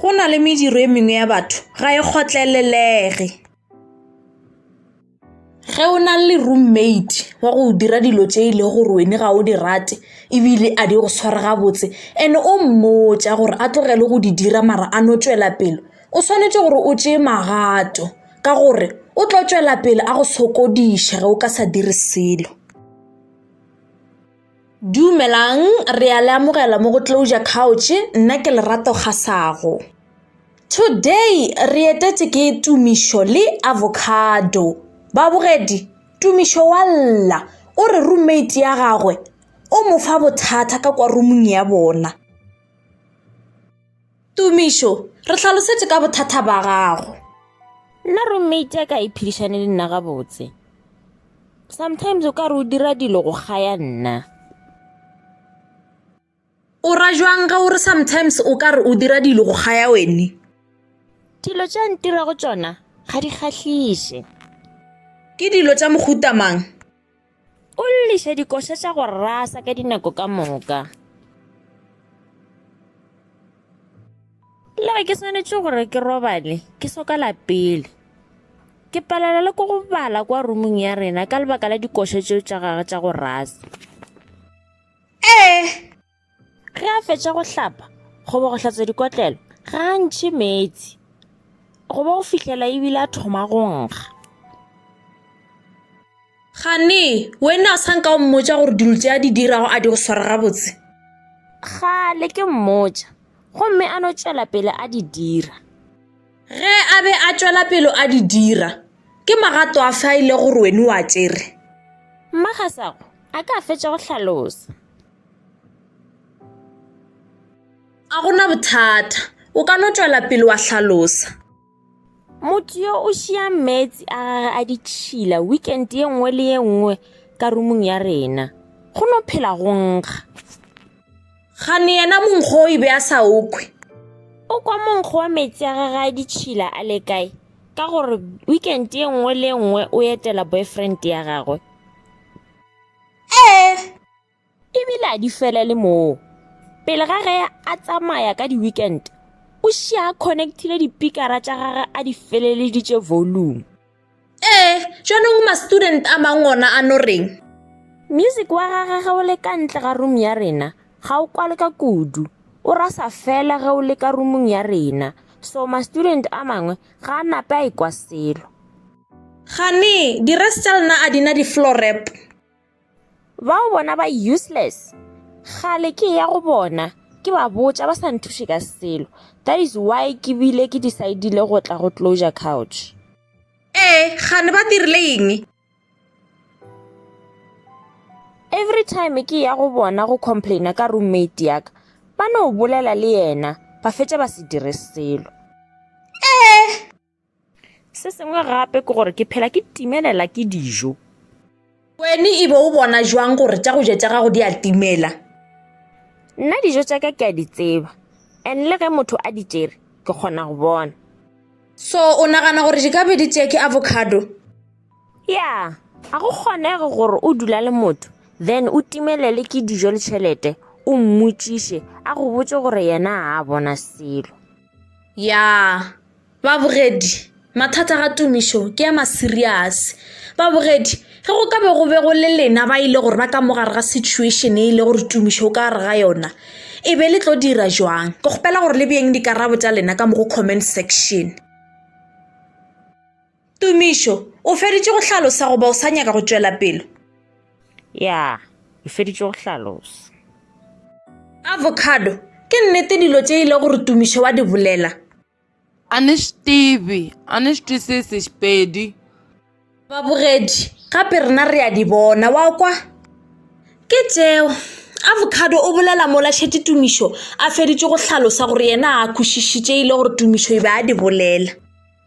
Go na le mediro e mengwe ya batho ga e kgotlelelege. Ge o na le roommate wa go dira dilo tse e le gore wene ga o di rate ebile a di go tshware gabotse and o mmotsa gore a tlogele go di dira mara a no tswela pelo o tshwanetse gore o tseye magato ka gore o tlo tšwela pele a go sokodiša ge o ka sa dire selo dumelang re a le amogela mo go closure couch nna ke lerato ga sago today re etetse ke tumišo le avocado babogedi tumišo wa lla o re roommate ya gagwe o mo fa bothata ka kwa rumong ya bona Tumišo, re hlalosetše ka bothata ba gago. Nna roommate ya ka e phedišane le nna gabotse. Sometimes o ka re o dira dilo go gaya nna. O ra jwang ge o re sometimes o ka re o dira dilo go gaya wene? Dilo tša ntirago tšona ga di kgahliše. Ke dilo tša mohuta mang? O lliša dikoša tša go rasa ka dinako ka moka. Le ge ke swanetše gore ke robale ke soka lapele ke palela le ko go bala kwa rumong ya rena ka lebaka la dikoša tšeo tša gage tša go rasa ee ge a fetša go hlapa goba go hlatswa dikotlelo ga a ntšhe meetse goba go fihlela ebile a thoma go nkga gane wena o sa nka o mmotsa gore dilo tse a di dirago a di go swara gabotse gale ke mmotsa gomme a no tšwela pele a di dira ge a be a tšwela pelo a di dira ke magato a fa ile gore wene wa tsere mmagasago a ka fetša go hlalosa Ga go na bothata. O ka no tšwela pele wa hlalosa. Motho yo o šia meetse a gage a ditšhila weekend ye nngwe le ye nngwe ka rumong ya rena. Go no phela go nkga. Gane yena monkgo o e be a sa okwe. O kwa monkgo wa meetse a gage a ditšhila a le kae? Ka gore weekend ye nngwe le ye nngwe o etela boyfriend ya gagwe. Ee. E bile a di felele moo. Pele ga ge a tsamaya ka di-weekend, o šia a connectile dipikara tša gage a di feleleditše volume. Ee, jaanong ma-student a mang ona a no reng? Music wa gagwe ge o le ka ntle ga room ya rena, ga o kwale ka kudu. O rasa fela ge o le ka roomong ya rena. So ma-student a mangwe ga a nape a ikwa selo. Gane, di-res tša lena a di na di-floor wrap? Bao bona ba useless. Gale ke ya go bona. Ke ba botša ba sa nthuše ka selo. That is why ke bile ke decidile go tla go closure couch. Ee, gane ba dirile eng? Every time ke ya go bona go complaina ka roommate ya ka, ba no bolela le yena, ba fetša ba se dire selo. Ee. Se sengwe gape ke gore ke phela ke timelela ke dijo. Wene e be o bona jwang gore tša go ja tša gago di a timela? Nna dijo tša ka ke a di tseba, and le ge motho a di tšere ke kgona go bona. So o nagana gore di ka be di tšee ke avocado? Ya, ga go kgonege gore o dula le motho then o timelele ke dijo le tšhelete o mmotšiše a go botše gore yena ga a bona selo. Ya. Babogedi, Mathata ga tumišo ke a masiriase. Babogedi, Ge go ka be go be go le lena ba e le gore ba ka mo gare ga situation e le gore tumišo o ka gare ga yona e be le tlo dira jwang ke kgopela gore le bjeng dikarabo tša lena ka mo go comment section. Tumišo, o feditše go hlalosa goba o sa nyaka go tšwela pele? Ya, ke feditše go hlalosa. Avocado, ke nnete dilo tše ile gore Tumišo wa di bolela? A ne swi tivi, a ni swi twisisi Xipedi. Babogedi, gape rena re a di bona, wa kwa? Ke tšeo. Avocado o bolela mola šetše Tumišo a feditše go hlalosa gore yena a kwešišitše ile gore Tumišo e be a di bolela.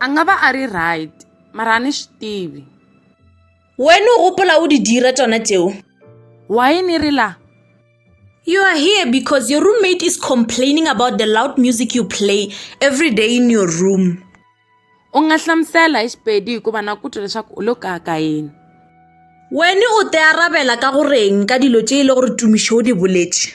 a nga ba a ri right mara a ni swi tivi wena o gopola o di dira tsona tseo why ni ri la You are here because your roommate is complaining about the loud music you play every day in your room. u nga hlamusela hi xipedi hikuva na ku twa leswaku u lo kaka yini Wena o te arabela ka goreng ka dilo tše e le gore tumišo o di boletše?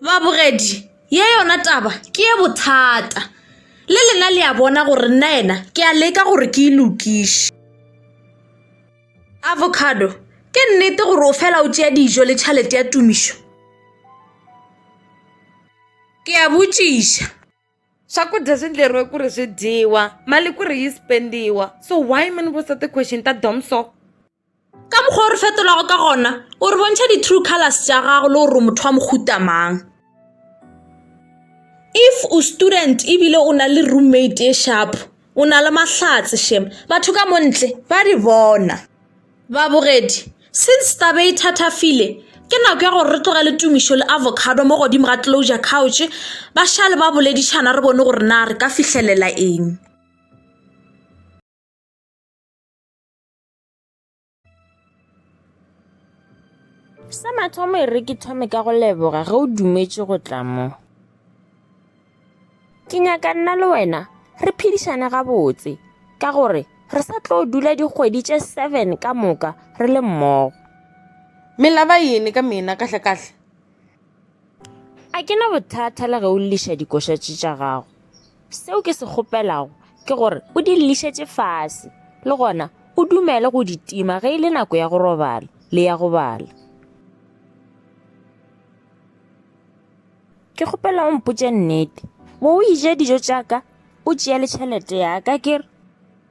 Babogedi, ye yona taba ke ye bothata. Le lena le a bona gore nna yena ke a leka gore ke e lokiše. Avocado, ke nnete gore o fela o tšea dijo le tšhalete ya tumišo? Ke a botšiša. Swakudya swi ndleriwe ku ri swi dyiwa, mali ku ri yi spendiwa, so why mi ni vutisa ti-question ta dumb so? Ka mokgwa o re fetolago ka gona, o re bontšha di-true colors tša gago le gore motho wa mohuta mang. If o student ebile o na le roommate e sharp, o na le mahlatse shem, batho ka mo ntle ba di bona. Babogedi, Since taba e thathafile, ke nako ya gore re tlogele Tumišo le Avocado mo godimo ga closure couch ba šale ba boledišana re bone gore na re ka fihlelela eng. sa mathomo e re ke thome ka go leboga ge o dumetše go tla mo ke nyaka nna le wena re phedišane gabotse ka gore re sa tlo dula dikgwedi tše seven ka moka re le mmogo melaba yene ka mena kahlekahle A ke na bothata le ge o lliša dikošatši tša gago. Seo ke se kgopelago ke gore o di llišetše fase, le gona o dumele go di tima ge e le nako ya go robala le ya go bala. Ke kgopela o mpotše nnete, bo o ija dijo tša ka o tšea le tšhelete ya ka ke re?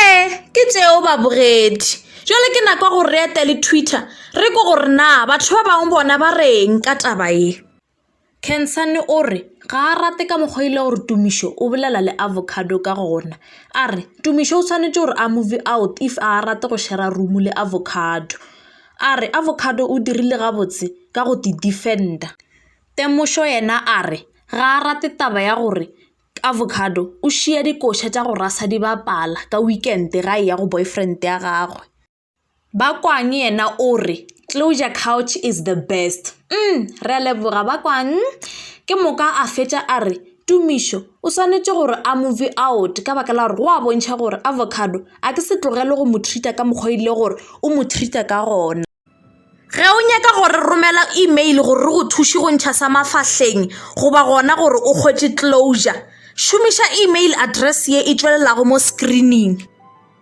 ee ke tšeo babogedi jale ke nako ya gore re etele twitter re ko gore na batho ba bangwe bona ba reng ka taba ye cansane o re ga a rate ka mokgwa ile gore tumišo o bolela le avocado ka gona a re tumišo o tshwanetse gore a move out if a rate go shera room le avocado a re avocado o dirile gabotse ka go di defender temošo yena a re ga a rate taba ya gore Avocado o šiya dikoša tša go rasa di bapala ka weekend ga e ya go boyfriend ya gagwe. Ba kwang yena o re closure couch is the best umm re a leboga ba kwang ke moka a fetša a re tumišo o swanetše gore a move out ka baka la gore go a bontšha gore avocado a ke se tlogele go mo treat-a ka mokgwa ile gore o mo treat-a ka gona. Ge o nyaka go re romela email gore re go thuše go ntšha sa mafahleng goba gona gore o kgwetše closure, šomiša email address ye e tšwelelago mo screening.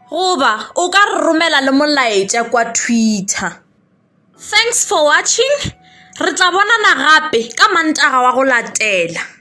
Goba o ka re romela le molaetša kwa Twitter. Thanks for watching, re tla bonana gape ka Mantaga wa go latela.